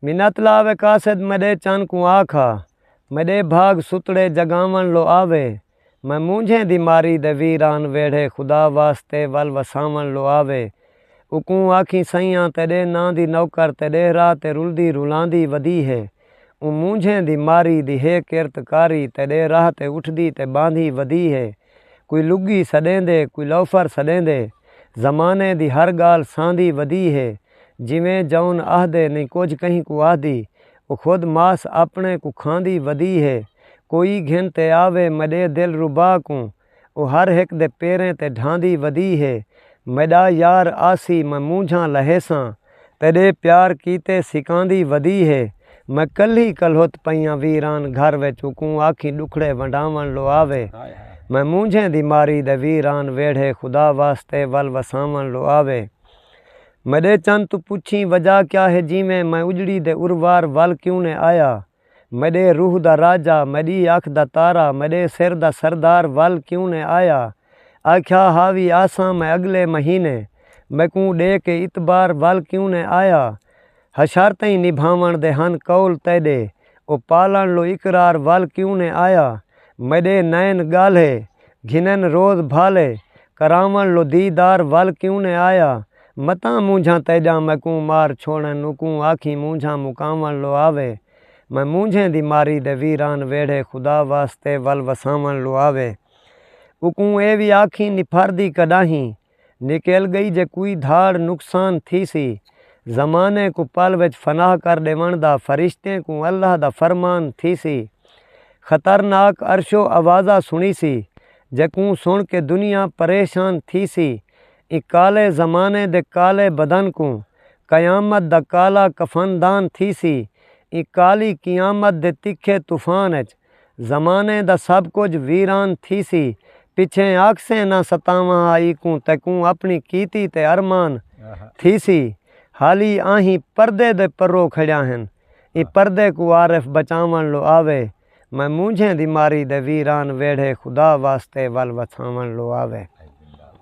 منت لاوے قاصد میݙے چن کوں آکھا میݙے بھاڳ ستڑے جڳاوݨ لو آوے میں مونجھیں دی ماری دے ویران ویڑھے خدا واسطے ول وساوݨ لو آوے اوکوں آکھیں سئیاں تیݙے ناں دی نوکر تیݙے راہ تے رلدی رلاندی ودی ہے اوں مونجھیں دی ماری دی ہے کرت کاری تیݙے راہ تے اٹھدی تے ٻاندھی ودی ہے کوئی لڳی سݙیندے کوئی لوفر سݙیندے زمانے دی ہر ڳالھ ساندی ودی ہے جیویں جون آہدے نئیں کجھ کہیں کوں آہدی او خود ماس آپݨے کوں کھاندی ودی ہے کوئی گھن تے آوے میݙے دل ربا کوں او ہر ہک دے پیریں تے ڈھاندی ودی ہے میݙا یار آسی میں مونجھاں لہیساں تیݙے پیار کیتے سکاندی ودی ہے میں کلھی کلہت پئیاں ویران گھر وچ اکوں آکھیں ݙکھڑے ونڈاوݨ لو آوے میں مونجھیں دی ماری دے ویران ویڑھے خدا واسطے ول وساوݨ لو آوے میݙے چن توں پچھیں وجہ کیا ہے جیویں میں اجڑی دے اروار ول کیوں نے آیا میݙے روح دا راجہ، میݙی اکھ دا تارا، میݙے سر دا سردار ول کیوں نئیں آیا؟ آکھیا ہا وی آساں میں اڳلے مہینے، میکوں ݙے کے اتبار ول کیوں نئیں آیا؟ حشارتئیں نبھاوݨ دے ہن قول تیݙے، او پالݨ لو اقرار ول کیوں نئیں آیا؟ میݙے نئن ڳالھے، گھنن روز بھالے، کراوݨ لو دیدار ول کیوں نئیں آیا؟ متاں مونجھاں تیݙاں میکوں مار چھوڑن اوکوں آکھیں مونجھاں مکاوݨ لوآوے میں مونجھیں دی ماری دے ویران ویڑھے خدا واسطے ول وساوݨ لوآوے اوکوں اے وی آکھیں نپھاردی کݙاہیں نکل ڳئی جے کوئی دھاڑ نقصان تھیسی زمانے کوں پل وچ فنا کر ݙیوݨ دا فرشتیں کوں اللہ دا فرمان تھیسی خطرناک عرشو آوازہ سݨیسی جیکوں سݨ کے دنیا پریشان تھیسی ایں کالے زمانے دے کالے بدن کوں قیامت دا کالا کفن دان تھیسی۔ ایں کالی قیامت دے تکھے طوفان اچ زمانے دا سب کجھ ویران تھیسی۔ پچھیں آکھسیں نہ ستاواں ہا ایکوں تیکوں اپݨی کیتی تے ارمان تھیسی۔ حالی آہیں پردے دے پرو کھڑیا ہن۔ ایں پردے کوں عارف بچاوݨ لو آوے۔ میں مونجھیں دی ماری دے ویران ویڑھے خدا واسطے ول وتھاوݨ لو آوے۔